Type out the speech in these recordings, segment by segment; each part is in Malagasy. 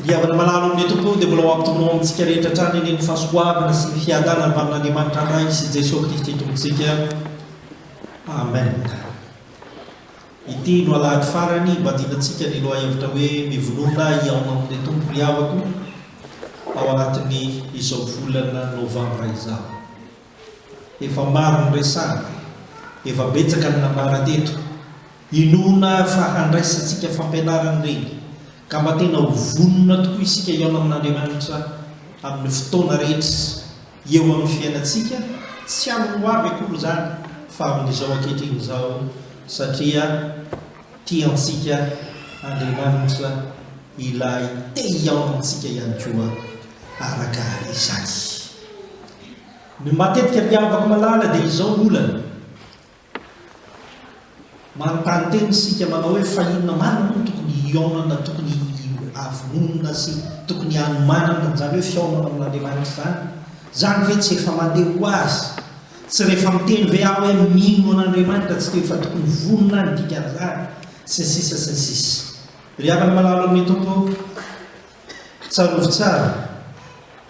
Ry havana malala o, ny Tompo dia mbola ho ampitombony ho amintsika rehetra hatrany anie ny fahasoavana sy ny fiadanana avy amin'Andriamanitra Ray sy Jeso Kristy Tompontsika. Amen. Ity no alahady farany imbadianantsika ny lohahevitra hoe Mivonona hihaona amin'ilay Tompo ry havako ao anatin'ny izao volana Novambra izao. Efa maro ny resahana, efa betsaka ny nambara teto, inoana fa handraisantsika fampianarana ireny, ka mba tena ho vonona tokoa isika hihaona amin'Andriamanitra amin'ny fotoana rehetra eo amin'ny fiainantsika, tsy amin'ny ho avy akory izany fa amin'izao ankehitriny izao, satria tiantsika Andriamanitra ilay te hihaona amintsika ihany koa araka izany. Ny matetika mpiavaka malala dia izao ny olana. Manontany tena isika manao hoe fa inona marina moa no tokony hihaonana, tokony havononana sy tokony hanomanana an'izany hoe fihaonana amin'Andriamanitra izany? Izany ve tsy efa mandeha ho azy? Tsy rehefa miteny ve aho hoe mino an'Andriamanitra tsy dia efa tokony vonona ny dikan'izany? Sy ny sisa sy ny sisa. Ry havana malalo amin'ny Tompo ô! Tsarovy tsara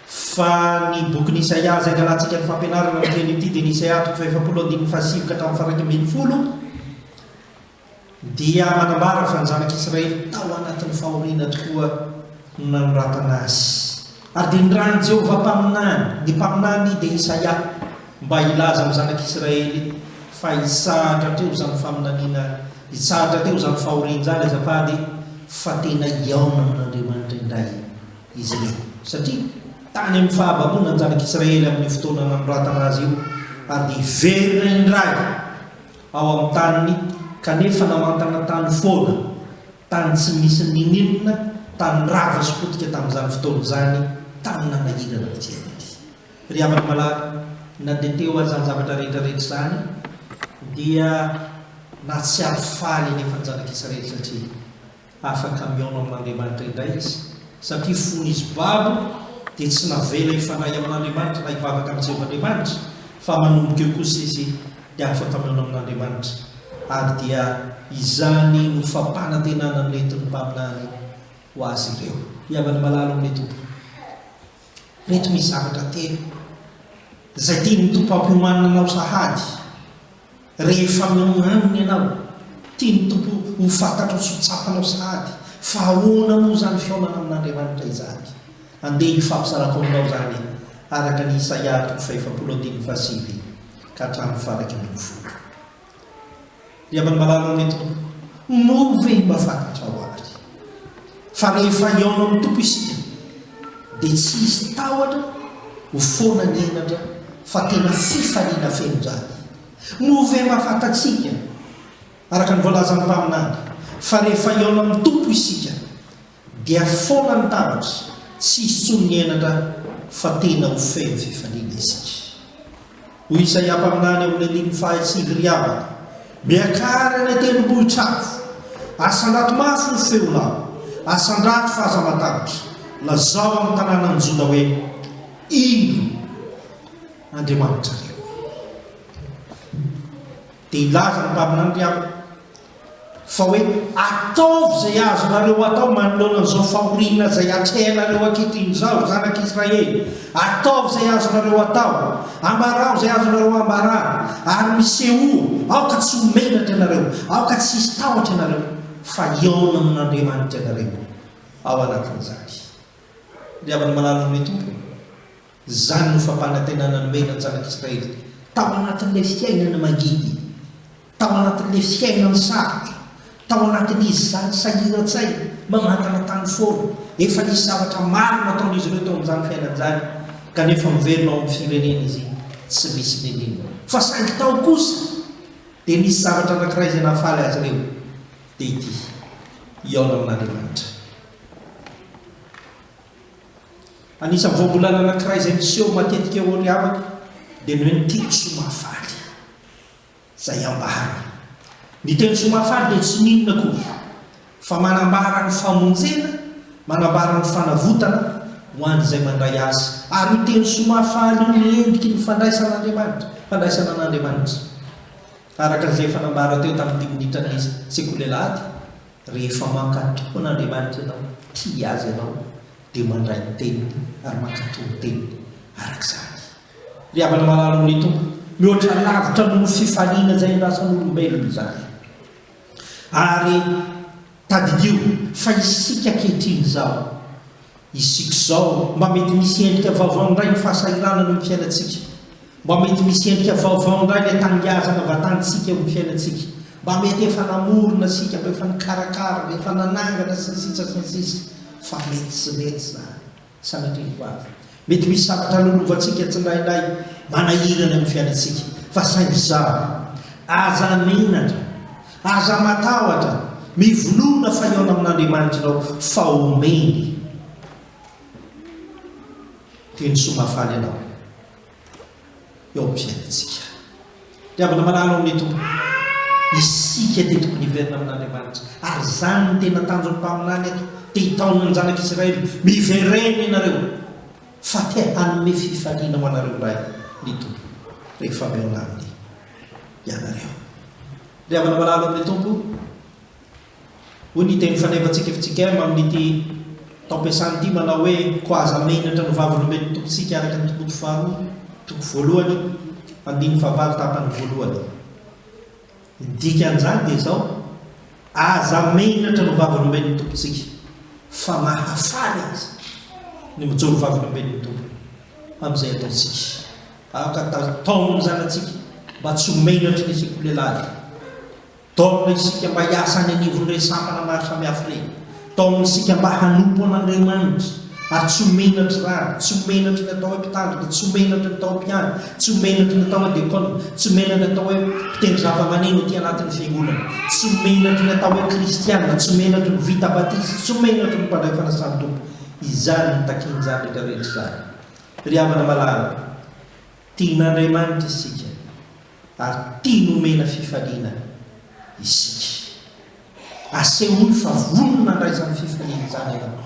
fa ny bokin'i Isaia izay angalantsika ny fampianarana amin'ny teny ity dia ny Isaia toko fahefapolo andininy fahasivy ka hatramin'ny faharaika ambin'ny folo dia manambara fa ny zanak'Israely tao anatin'ny fahoriana tokoa no nanoratana azy. Ary dia nirahin'i Jehovah mpaminany, ny mpaminany dia Isaia. Mba hilaza amin'ny zanak'Israely fa hitsahatra hatreo izany faminaniana, hitsahatra hatreo izany fahoriana izany azafady e, fa tena hihaona amin'Andriamanitra indray izy ireo. Satria tany amin'ny fahababoana ny zanak'Israely amin'io fotoana nanoratana azy io, ary dia hiverina indray ao amin'ny taniny, kanefa namantana tany foana, tany tsy misy n'inon'inona, tany rava sy potika tamin'izany fotoana izany, tany nanahirana ny fiainany. Ry havana malala, na dia te ho an'izany zavatra rehetra rehetra izany, dia nahatsiaro faly anefa ny zanak'isa rehetra satria afaka mihaona amin'Andriamanitra indray izy, satria fony izy babo dia tsy navela hifandray amin'Andriamanitra na hivavaka amin'i Jehovah Andriamanitra, fa manomboka eo kosa izy dia afaka mihaona amin'Andriamanitra, ary dia izany no fampanantenana noentin'ny mpaminany ho azy ireo. Ry havana malala ao amin'ny Tompo. Ireto misy zavatra telo izay tian'ny Tompo hampiomanina anao sahady rehefa mihaona Aminy ianao. Tian'ny Tompo ho fantatrao sy ho tsapanao sahady fa ahoana moa izany fihaonana amin'Andriamanitra izany. Andeha hifampizarako aminao izany araka ny Isaia toko fahefapolo andininy fahasivy ka hatramin'ny faharaika ambin'ny folo. Ry havany malala ny Tompo, moa ve mba fantatrao ary fa rehefa hihaona amin'ny Tompo isika dia tsy hisy tahotra ho foana ny henatra fa tena fifaliana feno izany. Moa ve mba fantatsika araka ny voalazan'ny mpaminany fa rehefa hihaona amin'ny Tompo isika Dia foana ny tahotra, tsy hisy intsony ny henatra fa tena ho feno fifaliana isika. Hoy Isaia mpaminany eo amin'ny andininy fahasivy Ry havana, miakara eny an-tendrombohitra avo, asandrato mafy ny feonao, asandrato fa aza matahotra, lazao amin'ny tanànan'i Joda hoe, Indro Andriamanitrareo! Dia nilaza ny mpaminany ry Aho fa hoe, Ataovy izay azonareo atao manoloana an'izao fahoriana izay hatrehanareo ankehitriny izao, zanak'i Israely. Ataovy izay azonareo atao, ambarao izay azonareo ambarana, ary misehoa, aoka tsy ho menatra ianareo, aoka tsy hisy tahotra ianareo, fa hihaona amin'Andriamanitra ianareo ao anatin'izany. Ry havana malala ny Tompo! Izany no fampanantenana nomena ny zanak'Israely tao anatin'ilay fiainana mangidy, tao anatin'ilay fiainana sarotra, tao anatin'izy izany sahiran-tsaina, mamantana tany foana. Efa nisy zavatra maro nataon'izy ireo tao amin'izany fiainana izany, kanefa miverina ao amin'ny firenena izy tsy misy niniana. Fa saingy tao kosa dia nisy zavatra anankiray izay nahafaly azy ireo, dia ity, Hihaona amin'Andriamanitra. Anisan'ny voambolana anankiray izay miseho matetika eo amin'ny havako dia ny hoe ny teny soamahafaly izay ambarany. Ny teny soamahafaly dia tsy n'inona akory fa manambara ny famonjena, manambara ny fanavotana ho an'izay mandray azy. Ary io teny soamahafaly io no endriky ny fandraisan'Andriamanitra, fandraisana an'Andriamanitra. Araka izay efa nambara teo tamin'ity minitra ny Sekoly Alahady, Rehefa mankato tokoa an'Andriamanitra ianao, tia Azy ianao, dia mandray ny Teniny ary mankato ny Teniny araka izany. Ry havana malala ao amin'ny Tompo, mihoatra lavitra noho ny fifaliana izay irasan'olombelona izany. Ary tadidio fa isika ankehitriny izao Isika izao mba mety misy endrika vaovao indray ny fahasahiranana eo amin'ny fiainantsika. Mba mety misy endrika vaovao indray ilay tanindrazana vatantsika eo amin'ny fiainantsika. Mba mety efa namorona isika, mba efa nikarakara, mba efa nanangana, sy ny sisa sy ny sisa. Fa mety tsy mety izany, sanatria ho avy. Mety misy zavatra lolovantsika tsinainay manahirana eo amin'ny fiainantsika. Fa saingy izaho, aza menatra. Aza matahotra, mivolorona fa hihaona amin'Andriamanitrao fa omeny teny soa mahafaly ianao eo amin'ny fiainantsika. Ry havana malala ao amin'ny Tompo, isika dia tokony hiverina amin'Andriamanitra ary izany no tena tanjon'ny mpaminany eto, te hitaona ny zanak'Isiraely, miverena ianareo fa te hanome fifaliana ho anareo indray ny Tompo rehefa mihaona Aminy. ianareo. Ry havana malalo amin'ny Tompo, hoy ny teny fanevantsika fitsikema amin'ity taom-piasana ity manao hoe Koa aza menatra ny Vavolombelon'ny Tompontsika araka ny Timoty faharoa toko voalohany andininy fahavalo tapany voalohany. Ny dikan'izany dia izao, aza menatra ny Vavolombelon'ny Tompontsika, fa mahafaly aza ny mijoro Vavolombelon'ny Tompo amin'izay ataontsika. Aoka taotaomy ny zanatsika mba tsy ho menatry ny sekolehilahy. Taomina isika mba hiasa any anivon'ireny sampana maro samihafa ireny. Taomina isika mba hanompo an'Andriamanitra ary tsy ho menatry rano, tsy ho menatry ny atao hoe mpitandrina, tsy ho menatry ny atao hoe mpiandry, tsy ho menatry ny atao hoe dekona, tsy ho menatry ny atao hoe mpitendry zavamaneno aty anatin'ny fiangonana, tsy ho menatry ny atao hoe kristiana, tsy ho menatry ny vita batisa, tsy ho menatry ny mpandray fanasan'ny Tompo. Izany no takian'izany rehetra rehetra izany. Ry havana malala, tian'Andriamanitra isika ary tia nomena fifaliana isika. Asehoy fa vonona handray izany fifaliana izany ianao,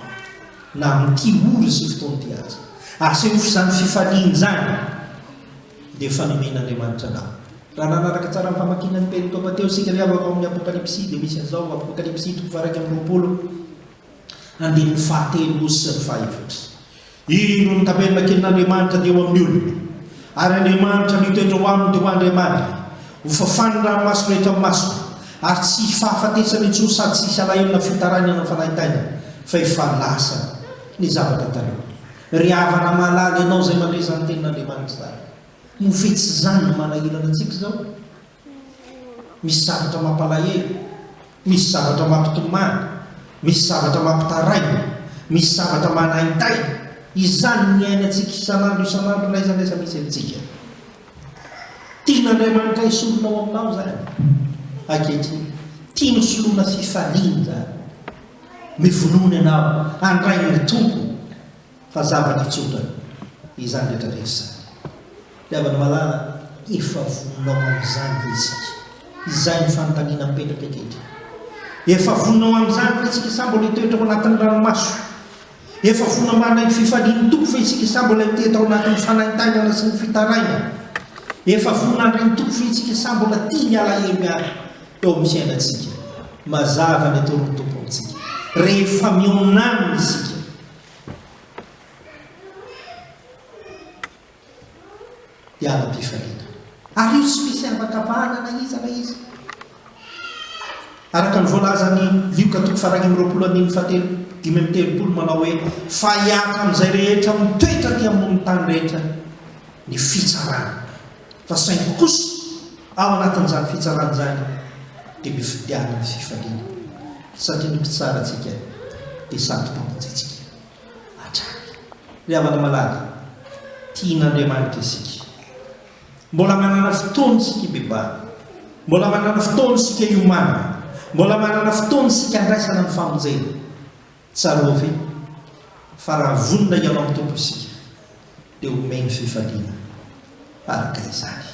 na amin'ity ora sy fotoana ity aza. Asehoy fa izany fifaliana izany dia efa nomen'Andriamanitra anao. Raha nanaraka tsara ny famakiana ny perintoba teo isika ry havako ao amin'ny Apokalypsy dia misy an'izao, Apokalypsy toko faharaika amby roapolo, andininy fahatelo sy ny fahaefatra. Io no notabernak'Andriamanitra teo amin'ny olona, ary Andriamanitra mitoetra ao aminy teo ho Andriamanitra. Ho fafany ny ranomasina eto amin'ny masony, ary tsy hifahafatesana intsony sady tsy hisy alahelo na fitarainana ny fanahy taingana, fa efa lasa ny zavatra taloha. Ry havana malala, ianao izay mandre izany tenin'Andriamanitra izany, moa ve tsy izany no manahirana antsika izao? Misy zavatra mampalahelo, misy zavatra mampitomany, misy zavatra mampitaraina, misy zavatra manaintaina, izany niainantsika isan'andro isan'andro n'aiza n'aiza misy antsika. Tian'Andriamanitra hisoroka ao aminao izany ankehitriny, tiany hosoloana fifaliana izany, mivonona ianao handray ny Tompo. Fa zavatra tsotra izany rehetra rehetra izany. Ry havana malala, efa voninao amin'izany ve isika? Izay no fanontaniana mipetraka ety ety. Efa voninao amin'izany ve isika sa mbola hitoetra ao anatin'ny ranomaso? Efa vonona mandray ny fifalian'ny Tompo ve isika sa mbola hitety ao anatin'ny fanaintainana sy ny fitarainana? Efa vonona handray ny Tompo ve isika sa mbola tia ny alahelo ihany eo amin'ny fiainantsika? Mazava ny atoroan'ny Tompo amintsika rehefa mihaona Aminy isika. Hiara-pifaliana. Ary io tsy misy havan-kavahana na iza na iza. Araka ny voalazan'i Lioka toko faha-iraika amby roapolo andininy fahatelo, dimy amby telopolo manao hoe, Fa hiaraka amin'izay rehetra mitoetra aty ambonin'ny tany rehetra. ny fitsarana fa saingy kosa ao anatin'izany fitsarana izany dia mifidianana ny fifaliana satria ny mpitsara antsika dia sady mpampatsitsika hatrany ry havana malala tian'Andriamanitra isika mbola manana fotoana isika hibebahana mbola manana fotoana isika hiomanana mbola manana fotoana isika handraisana ny famonjena Tsarovy fa raha vonona hihaona amin'ny Tompo isika dia homeny fifaliana araka izany.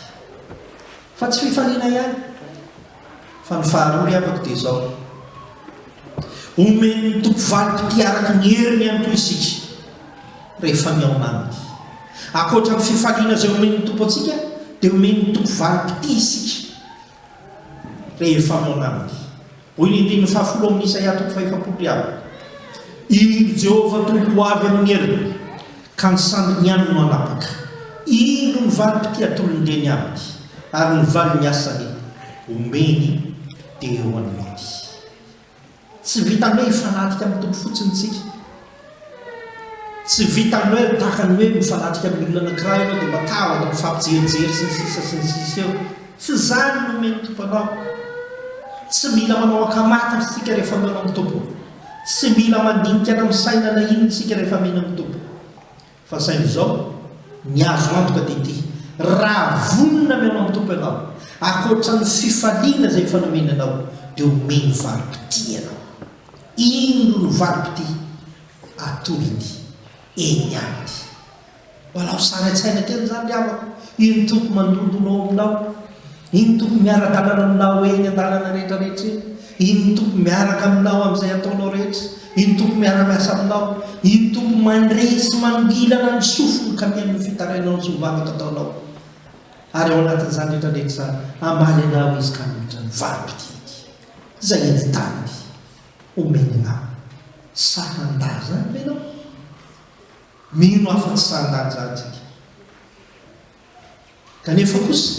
Fa tsy fifaliana ihany fa ny faharoa ry havako dia izao, homen'ny Tompo valim-pitia araka ny heriny ihany koa isika rehefa mihaona Aminy. Ankoatra ny fifaliana izay homen'ny Tompo antsika dia homen'ny Tompo valim-pitia isika. Rehefa manambdy. Hoy ny andininy fahafolo amin'ny Isaia toko fahefapolo ry Abba, Iny ry Jehovah Tompo ho avy amin'ny heriny, ka ny sandriny ihany no hanapaka. Indro ny valim-pitia tolon-dreny aminy, ary ny valin'ny asany omeny dia eo anilany. Tsy vitan'ny hoe hifanatrika amin'ny Tompo fotsiny isika. Tsy vitan'ny hoe tahaka ny hoe mifanatrika amin'ny olona anankiray ianao dia mba ta afaka mifampijerijery sy ny sisa sy ny sisa eo. Tsy izany no omen'ny Tompo anao. Tsy mila manao ankamantatra isika rehefa mihaona amin'ny Tompo. Tsy mila mandinika na misaina na inona isika rehefa mino amin'ny Tompo. Fa saingy izao, ny azo antoka dia ity, raha vonona mihaona amin'ny Tompo ianao, ankoatra ny fifaliana izay efa nomeny anao, dia homeny valim-pitia ianao. Indro ny valim-pitia atolony eny aminy. Mba alao sary an-tsaina kely izany ry havako, io ny Tompo mandondona ao aminao. Iny Tompo miaraka anana aminao eny an-dalana rehetra rehetra eny. Iny Tompo miaraka aminao amin'izay ataonao rehetra. Iny Tompo miara-miasa aminao. Iny Tompo mandre sy mangilana ny sofiny ka mihaino ny fitarainao sy ny varotra ataonao. Ary ao anatin'izany rehetra rehetra izany, hamaly anao Izy ka hanohitra ny valim-pididy izay eny an-tanany homeny anao. Sa handà izany ve ianao? Mino aho fa tsy sa handà izany isika. Kanefa kosa,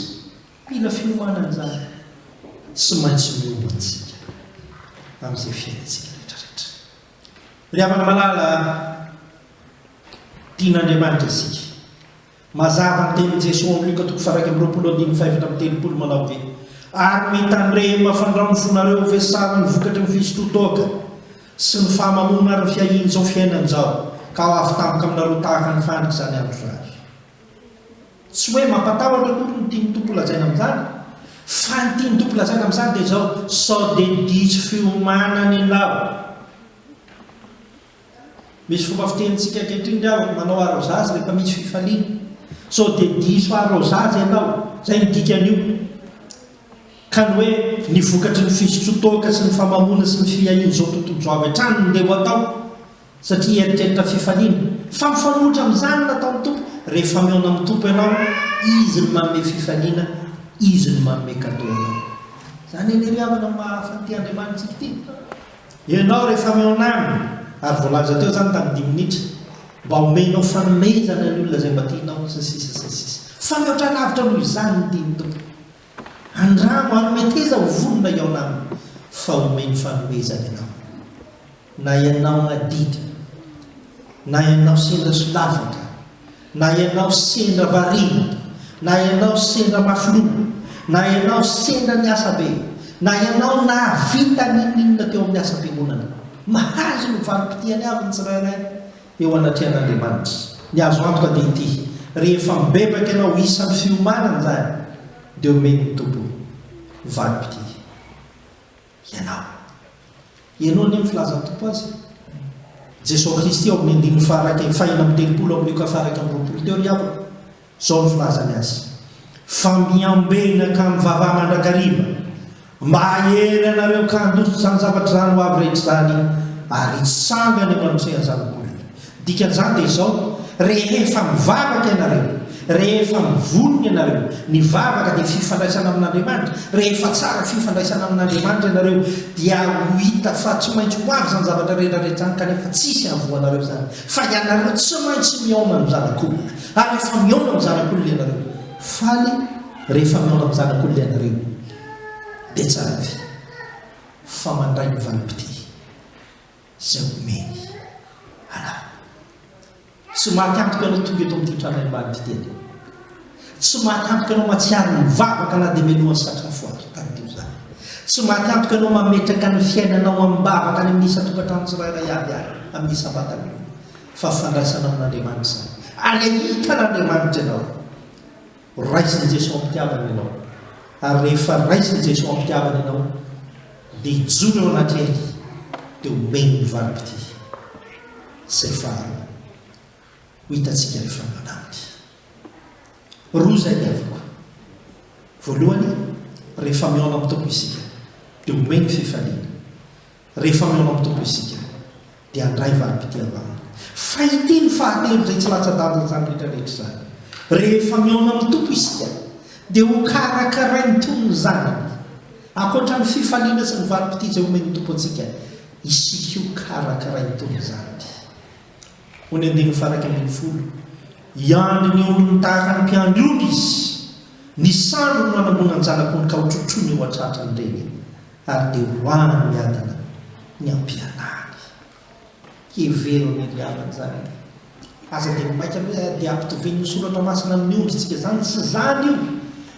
mila fiomanana izany. Tsy maintsy miomana isika amin'izay fiainantsika rehetrarehetra. Ry havana malala, tian'Andriamanitra isika. Mazava ny tenin'i Jesoa ao amin'ny Lioka toko faha-iraika amby roapolo andininy fahefatra amby telopolo manao hoe, Ary mitandrema fandrao ny fonareo ho vesaro ny vokatry ny fisotroan-toaka sy ny fahamamoana ary ny fiahian'izao fiainan-izao, ka ho avy tampoka aminareo tahaka ny fandrika izany andro izany. Tsy hoe mampatahotra akory ny tian'ny Tompo lazaina amin'izany, fa ny tian'ny Tompo lazaina amin'izany dia izao, sao dia diso fiomanana ianao. Misy fomba fitenintsika ankehitriny ny hoe manao arrosage rehefa misy fifaliana. Sao dia diso arrosage ianao, izay no dikan'io. Ka ny hoe ny vokatry ny fizotsotoka sy ny famamoana sy ny fiahian'izao tontolo izao avy hatrany no ndeha ho atao. Satria eritreritra fifaliana. Fa mifanohitra amin'izany ny nataon'ny Tompo, rehefa mihaona amin'ny Tompo ianao, Izy no manome fifaliana, Izy no manome cadeau anao. Izany anie ry havana ny maha hafa an'ity Andriamanitsika ity. Ianao rehefa mihaona Aminy, ary voalaza teo izany tamin'ny dimy minitra, mba homenao fanomezana ny olona izay mba tianao, sy ny sisa sy ny sisa. Fa mihoatra lavitra noho izany ny tian'ny Tompo. Andramo hanome teza ho vonona iao nama fa omeny fanomezana ianao na ianao nadidy na ianao sendra solavaka na ianao sendra variana na ianao sendra mafy loha na ianao sendra niasa be na ianao nahavita n'inon'inona teo amin'ny asam-piangonana. Mahazo ny valim-pitihany avy ny tsirairay. eo anatrehan'Andriamanitra. Ny azo antoka dia ity, rehefa mibebaka ianao isan'ny fiomanana izany, dia omen'ny Tompo valim-pitia ianao. Ianao anie ny filazan'ny Tompo azy. Jesoa Kristy ao amin'ny andininy faha iraika fahina amby telopolo amin'ny Lioka faha iraika amby roapolo teo ry havana. Izao ny filazany azy, Fa miambena ka mivavaha mandrakariva, mba hahery anareo ka handositra izany zavatr'izany ho avy rehetra izany, ary hitsangana eo anatrehan'ny zanak'olombelona. Ny dikan'izany dia izao, Rehefa mivavaka ianareo, rehefa mivonona ianareo, ny vavaka dia fifandraisana amin'Andriamanitra, rehefa tsara fifandraisana amin'Andriamanitra ianareo, dia ho hita fa tsy maintsy ho avy izany zavatra rehetra rehetra izany, kanefa tsisy hahavoa anareo izany, fa ianareo tsy maintsy mihaona amin'ny zanak'olona. Ary rehefa mihaona amin'ny zanak'olona ianareo, faly rehefa mihaona amin'ny zanak'olona ianareo, dia tsara ve? Fa mandray ny valim-pitia izay omeny anareo. Tsy maty antoka ianao tonga eto amin'ity trano ambany ity teto. Tsy maty antoka ianao mahatsiaro ny vavaka na dia melohan'ny satriny foaritra tadidio izany. Tsy maty antoka ianao mametraka ny fiainanao amim-bavaka any amin'ny isan-tokantrano tsirairay avy ary amin'ny isam-batan'olona. Fa fandraisana amin'Andriamanitra izany. Ary ahitan'Andriamanitra ianao. Raisin'i Jesoa am-pitiavana ianao. Ary rehefa raisin'i Jesoa am-pitiavana ianao, dia hijoro eo anatrehany, dia homeny ny valim-pitia. Izay faharoa. Ho hitantsika ny fanaona aminy. Roa izay ny avoko. Voalohany, rehefa mihaona amin'ny Tompo isika, dia homeny fifaliana. Rehefa mihaona amin'ny Tompo isika, dia handray valim-pitia aminy. Fahiteny fahatelo izay tsy latsa-danja izany rehetra rehetra izany. Rehefa mihaona amin'ny Tompo isika, dia hokarakarainy toy ny zanany. Ankoatra ny fifaliana sy ny valim-pitia izay homen'ny Tompo antsika, isika hokarakarainy toy ny zanany. Hoy ny andininy faha-iraika ambin'ny folo, Hiandry ny ondriny tahaka ny mpiandry ondry izy, ny sandriny no hanangonany ny zanak'ondry ka hotrotroiny eo an-tratrany ireny. Ary dia ho avy ny adina ny am-pialany. Hevero ny andiavany izany e! Aza dia maika hoe dia ampitovian'ny soratra masina amin'ny ondritsika izany, tsy izany io,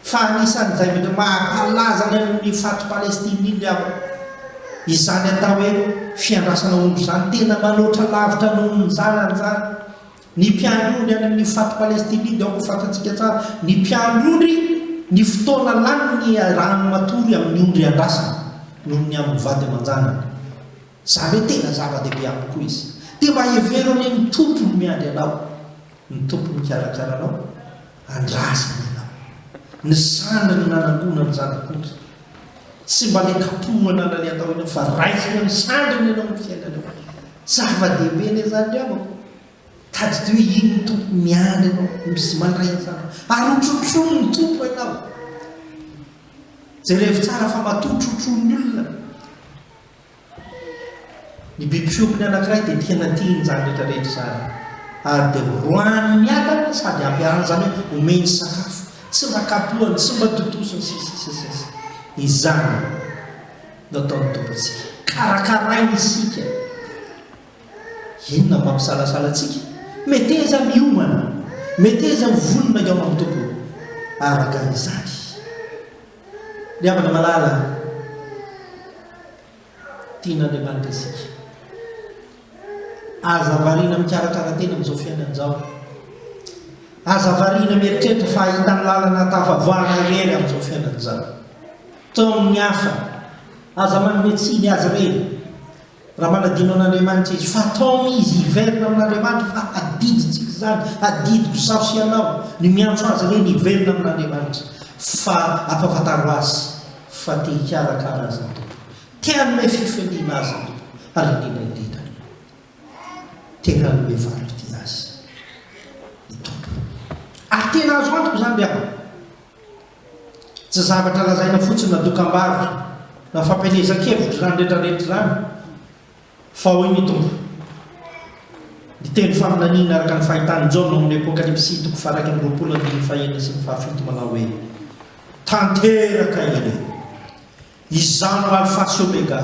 fa anisan'ny zavatra maha-mpalaza ny amin'ny faty Palestine iny ry havana. Izany atao hoe fiandrasana ondry izany tena manoatra lavitra noho ny zanany izany, Ny mpianondry any amin'ny fat Palestina dia aoka ho fantatsika tsara, ny mpianondry, ny fotoana lany ny iarahany matory amin'ny ondry andrasana noho ny amin'ny vady aman-janany. Izany hoe tena zava-dehibe amiko koa izy. Dia mba hevero anie ny Tompo no miandry anao, ny Tompo mikarakara anao. Andrasana ianao. Ny sandry no nanangona ny zana-k'ondry. Tsy mba nikapohana na ny atao inona fa raisina ny sandriny ianao amin'ny fiainanao. Zava-dehibe anie izany ry havako. Tadidio hoe iny ny Tompo miandry anao, misy mandray ny zanany. Ary hotrotronin'ny Tompo ianao. Jerevo tsara fa matoa trotroin'ny olona. Ny biby fiompiny anankiray dia tena tiany izany rehetra rehetra izany ary dia roahany miadana sady ampy anana izany hoe omeny sakafo, tsy mba kapohany, tsy mba totosiny sy ny sisa sy ny sisa. Izany no ataon'ny Tompo antsika. Karakarainy isika. Inona no mampisalasala antsika? Meteza miomana, meteza ho vonona hihaona amin'ny Tompo araka izany. Ny havana malala a! Tian'Andriamanitra isika. Aza variana mikarakara tena amin'izao fiainana izao. Aza variana mieritreritra fa hahita ny lalana hatafavoahana irery amin'izao fiainana izao. Tao amin'ny hafa, aza manome tsiny azy ireny. Raha manadino an'Andriamanitra izy, fa ataony izy hiverina amin'Andriamanitra, fa adidintsika izany, adidiko izaho sy ianao, ny miantso azy ireny hiverina amin'Andriamanitra, fa ampahafantaro azy fa te hikarakara azy ny Tompo, te hanome fifaliana azy ny Tompo, ary indrindra indrindra, te hanome valim-pitia azy ny Tompo. Ary tena azo antoka izany ry havana. Tsy zavatra lazaina fotsiny na dokam-barotra na fampielezan-kevitra izany rehetrarehetra izany fa hoy ny Tompo, ny teny faminaniana araka ny fahitan'i Jaona ao amin'ny Apokalypsy toko faharaika amby roapolo andininy fahenina sy ny fahafito manao hoe, Tanteraka ireo. Izaho no Alfa sy Omega,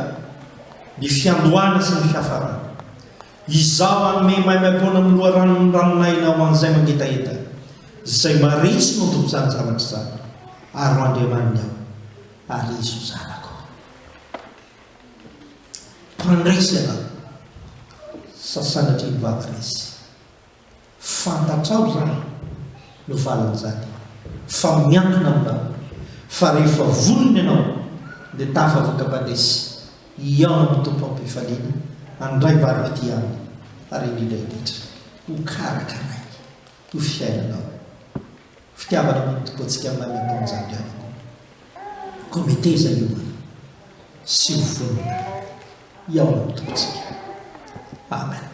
ny fiandohana sy ny fiafarana. Izaho hanome maimaim-poana amin'ny loharanon'ny ranon'aina ho an'izay mangetaheta, izay marihitsy no Tompon'izany zavatra izany, ary ho Andriamaniny aho, ary izy ho zanako. Mpandresy ialahy, sasanatria ny vava resy. Fantatrao ialahy no valin'izany fa miankina aminao fa rehefa vonona ianao dia tafavoaka Padesy hihaona amin'ny Tompo am-pifaliana handray valim-pitia aminy ary indrindra indrindra ho karakarainy ho fiainanao fitiavana amin'ny Tompoantsika Mamy Ampamonjam-pianako koa meteza hiomana sy ho vonona hihaona amin'ny Tompotsika Amen.